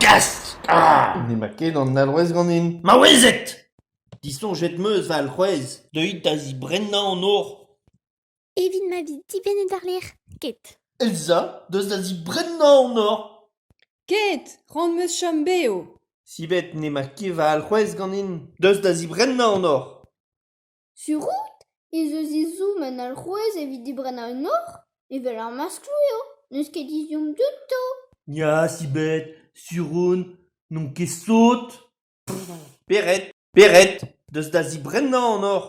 Gast ah! N'emañ ket an alc'hwez ganin. Maouezed! Disoñjet 'm eus va alc'hwez deuit da zibrennañ an or. Evit ma vi dibennet àr-lerc'h. Ket. Elsa, deus da zibrennañ an or. Ket! Ran 'm eus chom bev. Sivet n'emañ ket va alc'hwez ganin. Deus da zibrennañ an or. Sur-out ez eus ezhomm un alc'houez evit dibrennañ un or evel ar maskloù eo, n'eus ket ezhomm ganto. Ya, Sibed, sur on, n'on ket sot. Pered, pered, deus da zibrennañ an or.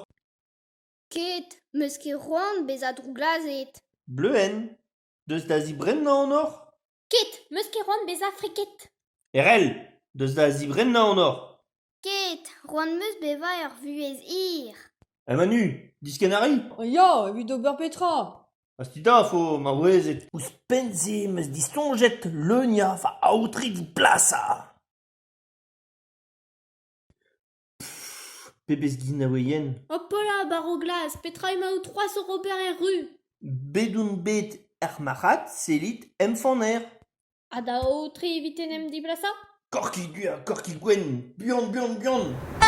Ket, 'meus ket c'hoant bezañ drouglazhet. Bleuenn, deus da zibrennañ an or? Ket, 'meus ket c'hoant bezañ friket. Erell, deus da zibrennañ onoc'h. Ket, c'hoant 'meus bevañ er vuhez hir. Ha Manu, diskenn a ri? Ya, evit ober petra? Hastidañ vo maouezed. Ouzhpenn-se 'meus disoñjet leuniañ va aotre 'vit plasañ. Pebezh ginaouer yen ! Hopola, baro glas, petra emaout c'hoazh oc'h ober er ru ? Bet on bet er marc'had, sellit, em faner. Ha da aotre evit en em dibrasañ ? Korkig du ha korkig gwenn, buan, buan, buan !